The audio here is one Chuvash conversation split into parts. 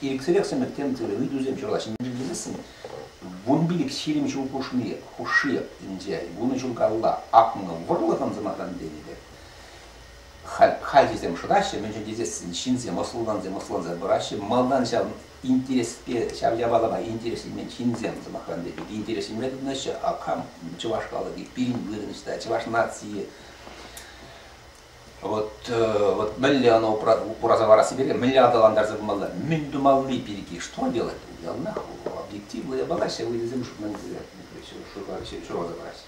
Ирӗксӗрех сӗмӗрткен тырӑ ыйтусем ҫурала ҫӗнтертерессӗн вун пилӗк ҫирӗм ҫул хушши, хушши ӗнтӗ. Вунӑ ҫул калла акмӑл вӑрлӑхӑн, сӑмахран тенӗ пек, халь хальхисем шӑтаҫҫӗ, мӗншӗн тесессӗн ҫынсем ӑслӑлансем ӑслӑланса пыраҫҫӗ. Малтан ҫав интереспе, ҫав япалапа интересленмен ҫынсем, сӑмахран тенӗ пек, интересленме тытӑнаҫҫӗ. А кам чӑваш халӑхӗ пирӗн вырӑнӑҫ та, чӑваш нацийӗ. Вот, вот мӗнле оно упраса ларасси пирки мӗнле аталантарса пымалла, мӗн тумалли пирки, что делать? Я нахуй, объектив бояться, вылезем, чтобы нам все, что забрать.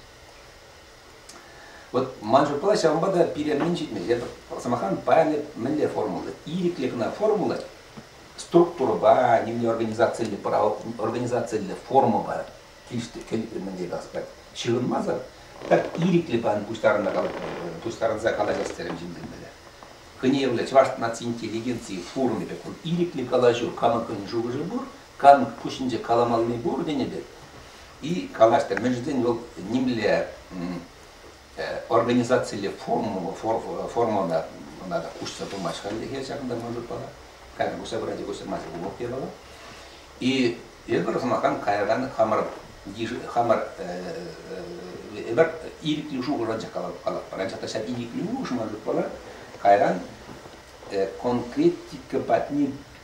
Вот манжу плащ ҫавӑнпа та пире мӗн ҫитмест. Эпӗ сӑмахран паян мӗнле формула? Ирӗклӗ кӑна формула, структурӑпа, не организациллӗ, организациллӗ формӑпа кӗл мӗнле каласпать. Ҫыхӑнмасӑр пӗр ирӗклӗ план пуҫтарӑнса калаҫмалла, пуҫтарӑнса калаҫас терӗм ҫынсем вӗле. Кӑневлӗ Чӑваш наци интеллигенцийӗ форумӗ пек вӑл ирӗклӗ калаҫу камӑнккӑн шухӑшӗ пур, камӑнк пуҫӗнче каламалли пур тенӗ пек. И калаҫтӑр, мӗншӗн тесен вӑл нимле организацилле формӑлла ӑна та куҫса пымасть хальлӗхе ҫакӑнта ман шутпа кайран куҫса пырать куҫсӑрмасть улӑп япала и эпир сӑмахран кайран хамӑр хамӑр эпир ирӗклӗ шухӑш анчах калатпӑр анчах та ҫак ирӗклӗ шухӑш ман шутпа кайран конкретика патне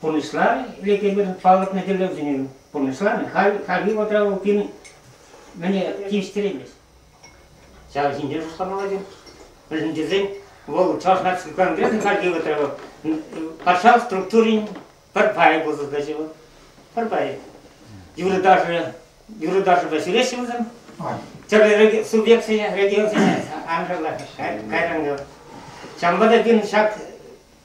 Пурнӑҫларӗ Владимирӑн палӑртнӑ тӗллевсене. Пурнӑҫларӗ. Халь, хальхи вӑхӑтра вӑл пин мӗне тивӗҫтереймест. Ҫав ҫинче шутланмалла Мӗншӗн тесен вӑл Чӑваш Наци Конгресӗн хальхи вӑхӑтра вӑл патшалӑх структурин пӗр пайӗ пулса тӑчӗ вӑл. Пӗр пайӗ. Юрӑ-ташӑ, юрӑ-ташӑпа ҫӳреҫҫӗ вӗсем. Тӗрлӗ субъектсене, регионсене аншӑнлах кайран ҫавӑнпа та пирӗн ҫак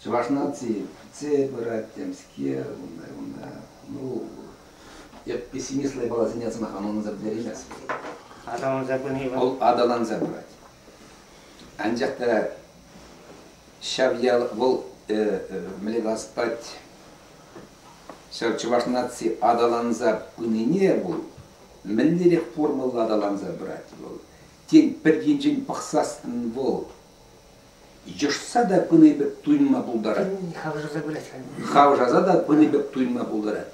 Чӑваш наци пӗтсе пырать темскер, унта, унта, ну, эп пессимист лайбаласене сӑмаха ӑнланса пӗтереймес. Аталанса пыни вӑл? Вӑл аталанса пырать. Анчах та ҫав ял, вӑл э, э, мӗнле калас ҫав чӑваш наци аталанса пынине вӑл мӗнлерех формӑлла аталанса пырать вӑл. Тен, пӗр енчен пӑхсассӑн вӑл Йӑшса та пыни пек туйӑнма пултарать. Хавшаса пырать. Хавшаса та пыни пек туйӑнма пултарать.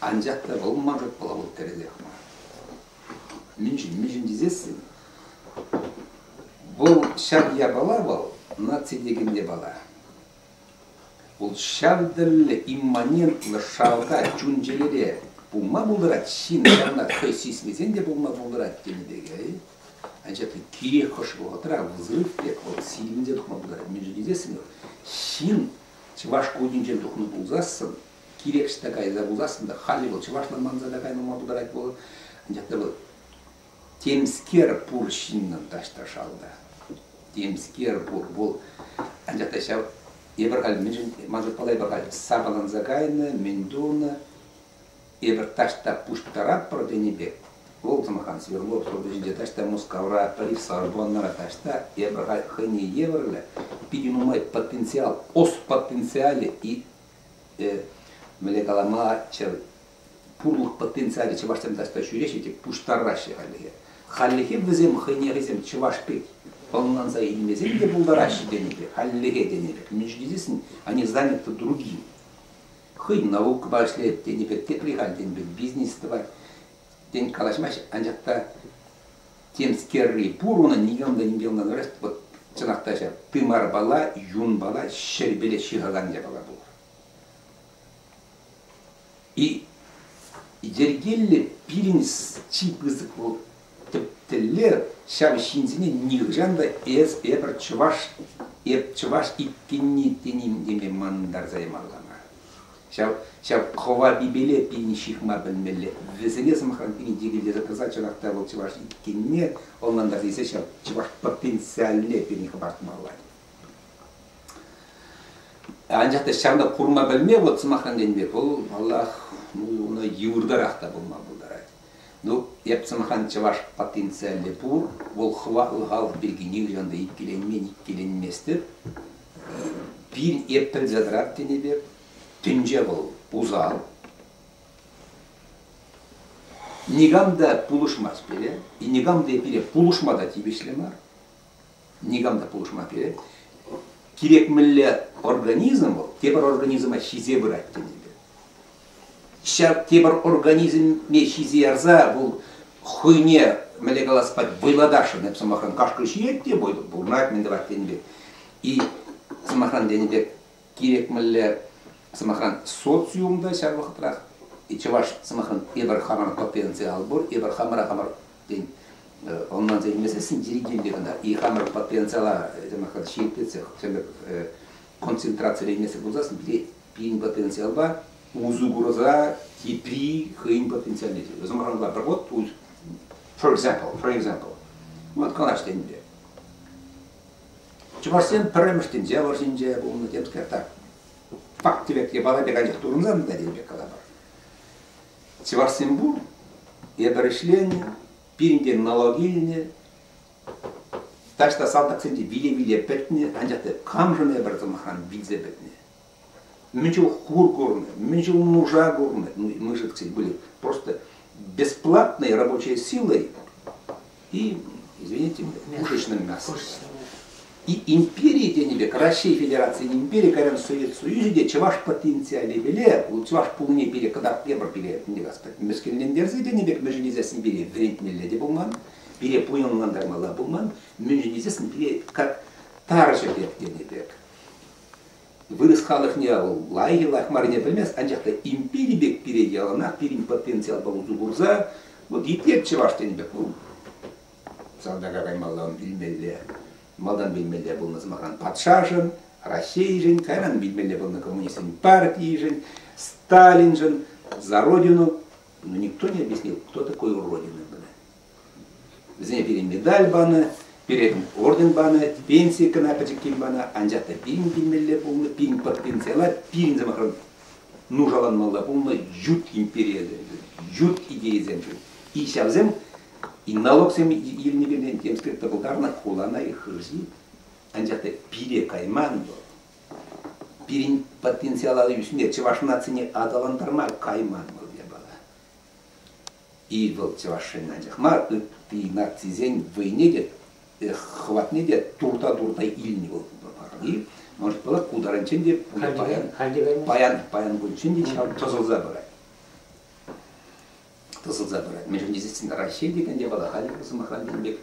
Анчах та вӑл манрӑк пулавӑл тӗрӗсех мар. Мӗншӗн, мӗншӗн тесессӗн вӑл ҫак япала вӑл наци текен япала. Вӑл ҫантӑллӗ, имманентлӑ шалта, чун-чӗрере пулма пултарать ҫын, ҫавна хӑй сисмесен те пулма пултарать тенӗ пекех. Анчах та кирек хӑш вӑхӑтра вӑл пек вӑл сирӗн те тухма пултарать, мӗншӗн тесессӗн ҫын чӑваш кутӗнчен тухнӑ пулсассӑн, кирек ӑҫта кайса пулсассӑн та, халӗ вӑл чӑвашлан манса та кайма пултарать вӑл. Анчах та вӑл Темскер пур ҫыннӑн ташташалла. Темскер пур. Вӑл анчах та ҫав эпир халь мӗншӗн мансӑр паллайпа халь сапаланса кайнӑ, мӗн тунӑ, эпир таҫта пуҫтаратпӑр тенӗ пек, вӑл сӑмхан Свердлов суртӑҫӗнче таҫта Мускавра, Париксар пуланнара таҫта эпир халь хӑйне евӗрлӗ питӗ нумай потенциал, ос потенциалӗ и, э, мӗнле калама чӗр пурлӑх потенциалӗ чӑвашсем таҫта ҫӳреҫҫӗ те пуҫтараҫҫӗ хальлӗхе. Хальлӗхе вӗсем хӑйне хӑйсем чӑваш пек ӑнланса илмесен те пултараҫҫӗ тенипе, хальлӗхе тенипе, междинисан они заняты другим. Хӑйӗн наукӑпа ӗҫлет тенипе тепри халь тенипе бизнес тӑвать. Тен калаҫмасть, анчах та темскерри пур унӑн никам та нимпе ӑнланмасть. Вот чӑнах та ҫав, тымарпала, юнпала, ҫӗрпеле ҫыхакан япала пулар. И йӗркеллӗ пирӗн чи пысӑк вӑл тӗп тӗллев ҫав ҫынсене нихӑҫан та эс эпӗр чӑваш эп чӑваш иккенни теним теме мантарса ямалла ҫав ҫав хова пипеле пирӗн ҫыхма пӗлмелле вӗсене сӑмахран йӗкелесе тӑса чӑнах та вӑл чӑваш иккенне ӑнлантарса илсе ҫав чӑваш потенциалне пирӗн хӑпартмалла Анчах та ҫавна курма пӗлме вот сӑмахран тенӗ пек вӑл, паллах, ну, йывӑртарах та пулма пултарать. Ну, эп сӑмахран чӑваш потенциалӗ пур, вӑл хӑватлӑ халӑх пирки нихӑҫан та иккӗленмен, иккӗленместӗп. Пин эп пӗлсе тӑрар тенӗ пек, тӗнче вӑл усал. Никам та пулӑшмасть пире, и никам та пире пулӑшма та тивӗҫлӗ мар. никам та пулӑшма перет. Кирек мӗнле организм вӑл тепӗр организма ҫисе пырать тенипе. Ҫав тепӗр организме ҫисе ярса вӑл хӑйне мӗнле каласпа вӑйлатасшӑн эп сӑмахран кашкӑр ҫиет те вӑйлӑ пурӑнать мӗн тӑвать тенипе и сӑмахран тенӗ пек кирек мӗнле сӑмахран социум та ҫав вӑхӑтрах и чӑваш сӑмахран эпир хамӑр потенциал пур эпир хамӑра хамӑр тен, ӑнланса илмесессӗн еритенле кӑна хамӑр потенциала ҫирӗплетсе концентрацилемесӗр пулсассӑн пире пирӗн потенциалпа усӑ курса тепри хӑйӗн потенциалне тӳ. Sometimes like, but what would, for example, for example, вот канаш тенде. Чӑвашсем пӗрремӗш тӗнче вӑрҫинче пулнӑ темскер так. Пак тӗвек япала пек анчах турӑнсан та тем пек калапар. Чӑвашсем пур, эпӗр ӗҫленӗ, пирӗнте налог илнӗ, таҫта салтаксем те виле-виле пӗтнӗ, анчах та камшӑн эпӗр, сӑмахран, вилсе пӗтнӗ. Мӗн чул хур курнӑ, мӗн чул нуша курнӑ мышек выльӑх. Просто бесплатной рабочей силой И, извините, музычным мясом. И империи тенӗ пек Раҫҫей Федерацийӗн импери кайран Совет Союзӗ те чӑваш потенциалӗ пиле, чӑваш пулни пире кӑтарт тепӗр пире, не господи, мӗскӗнлентерсе тенӗ пек мӗншӗн тесессӗн пире вӗретмелле те пулман, пире пуянлантармалла пулман, мӗншӗн тесессӗн пире как тарҫӑ пек тенӗ пек. Вырӑс халӑхне вӑл лайӑх йӑлах маррине пӗлмест, анчах та импери пек пире яланах пирӗн потенциалпа усӑ курса, вӑл епле чӑваш тенӗ пек вӑл салтака каймалла ун вилмелле, малтан вилмелле пулнӑ сӑмахран патшашӑн, Раҫҫейшӗн, кайран вилмелле пулнӑ коммунистсен партийшӗн, Сталиншӑн, за родину. Но никто не объяснил, кто такой уродина. Вӗсене пире медаль панӑ, пире орден панӑ, пенси кӑна пӗчӗккин панӑ, анчах та пин килмелле пулнӑ, пин пенсила, пин сӑмахран нушаланмалла пулнӑ ют империесем, ют идейӑсем ҫук. И ҫавсем и налогсем илни пирки тем сказать пултарнӑ хулана и хырҫи, анчах та пире кайман вӑл. Пирӗн потенциал алӑ ӳсме, чӑваш нацине аталантарма кайман вӑл япала. И вӑл чӑвашсен анчах мар, ытти нацисен вӑйне те, хӑватне те турта-турта илнӗ вӑл пахали. Может пулать, ку таранччен те паян, паян, паян кунччен те ҫав тӑсӑлса пырать. Тӑсӑлса пырать. Мӗншӗн тесен Раҫҫей текенде вӑл халӗ сӑмахран тенӗ пек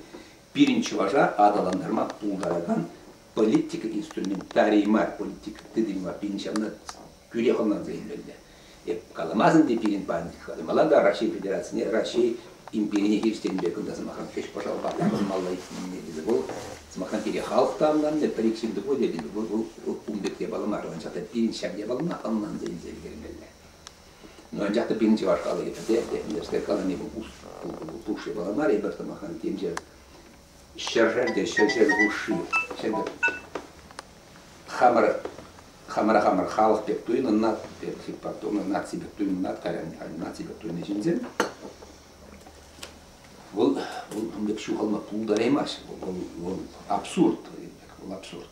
пирӗн чӑваша аталантарма пултаракан политика инструментарий мар, политика тытӑмӗ пирӗн ҫавна тӳрех ӑнланса илмелле. Эп каламасӑн те пирӗн пан хытӑмала та Раҫҫей Федерацине Раҫҫей империне хирӗҫтенӗ пек кунта сӑмахран ӗҫ пӑшалпа тапӑнмалла икснине тесе вӑл сӑмахран пире халӑх та ӑнланмӗ, пӗр-ик ҫын тупать тетӗн, вӑл ун пек япала мар, анчах та пирӗн ҫак япалана ӑнланса илсе ӗлкӗрмелле. Ну анчах та пирӗн чӑваш халӑхӗ пӗрте пӗрте пӗлтерсех калани вӑл пуш япала мар, эпир сӑмахран темшер Ҫӗршер те ҫӗршер хушши сӗтӗр хамӑр хамӑра хамӑр халӑх пек туйӑннӑ наци пек туйӑннӑ кайран наци пек туйӑннӑ ҫынсем вӑл вӑл пек ҫухалма пултараймасть вӑл вӑл абсурд вӑл абсурд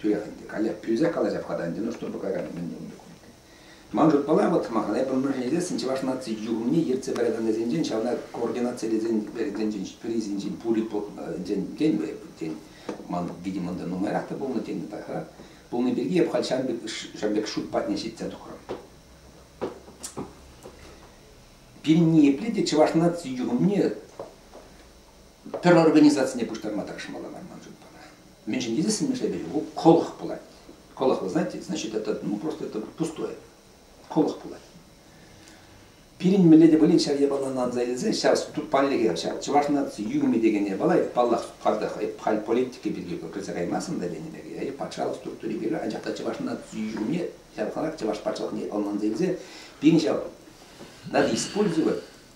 Туят ӗнтӗ. Каллех пӳлсе калаҫап-ха та ӗнтӗ, ну что пӑкакан мӗн ун документи. Ман шутпала, вӑт сӑмахана эпӗ мӗншӗн илесшӗн, чӑваш наци юхӑмне ертсе пыраканнисенчен, ҫавна координацилесен пирӗнсенчен, пирӗнсенчен пулит тен, тен, ман, видимо, ӑнта нумайрах та пулнӑ, тен, та пулни пирки эп халь ҫан пек, ҫан пек шут патне ҫитсе тухрӑм. Пирӗн ниепле те чӑваш наци юхӑмне пӗр организацине пуҫтарма тӑрӑшмалла мар ман шутпа. Мӗншӗн тесен мӗншӗн пулать? Колох пулать. Колох, вы знаете, значит, это ну, просто это пустое. Колох пулать. Пирӗн мӗнле те пулин ҫав япалана аса илсе ҫав тут паллӗхе ҫав чӑваш наци юрми текене пала паллах картах халь политика пирки кӗрсе каймасӑн та тенӗ пек патшалӑх структури пирки анчах та чӑваш наци юрми ҫав халах чӑваш патшалӑхне ӑнланса илсе пирӗн ҫав надо использовать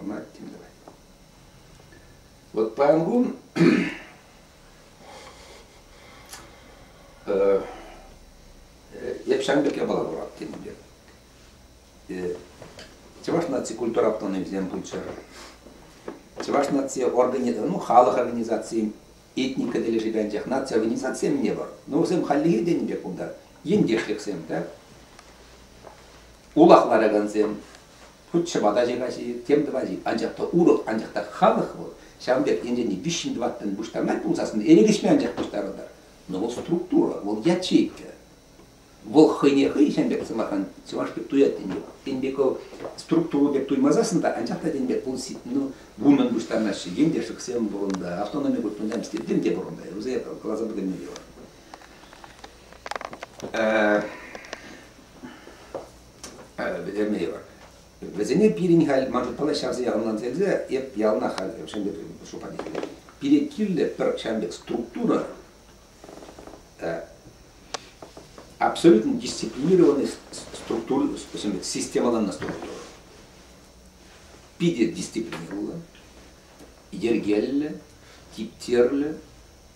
ӑна тем тӑвать. Вот паян кун эп ҫавӑн пек япала курат темӗнле. Чӑваш наци культура автономисем пулччӑр. Чӑваш наци организаци, ну, халӑх организацийӗ этника тӗлӗшӗпе анчах наци организацийӗ не вӑр. Но вӗсем хальлӗхе тенӗ пек кунта ентешлӗхсем, да, улах ларакансем, Хуть ҫӑпата ача каҫи, тем тӑвать-и, анчах та урӑх, анчах та халӑх вӑл ҫавӑн пек енчен виҫҫӗн-тӑваттӑн пуҫтарӑнать пулсассӑн эрехлеҫме анчах пуҫтарӑнтӑр, но вӑл структура, вӑл ячейка. Вӑл хӑйне хӑй ҫавӑн пек сӑмахран чӑваш пек туять тен те, тен пек вӑл структура пек туймасассӑн та анчах та тен пек вӑл ну, вуннӑн пуҫтарнаҫҫӗ, ентешӗксем пурӑнта, автономи государств теттем те пурӑнта, вӗсем каласа пӗтерме те вӗтерме йывӑр. Вӗсене пирӗн халь ман шутпала ҫавсӑр яланланса илсе эп ялна халь шем пек шута илмелле. Пире кирлӗ пӗр ҫавӑн пек структура, абсолютно дисциплинированный структура, системаланнӑ структура. Питӗ дисциплинированно, йӗркеллӗ, типтерлӗ,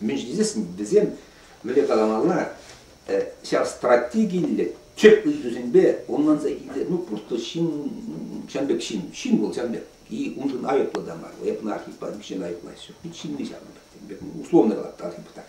Мӗн ҫитесшӗн, вӗсем мӗнле каламалла, ҫав стратегиллӗ тӗп ыйтусемпе ӑнланса килсе, ну просто ҫын ҫавӑн пек ҫын, ҫын вӑл ҫавӑн пек, и уншӑн айӑплӑ та мар, айӑплӑ архип, ҫын айӑплаҫҫӗ, пит ҫынни ҫавӑн пек, условно калап архип так.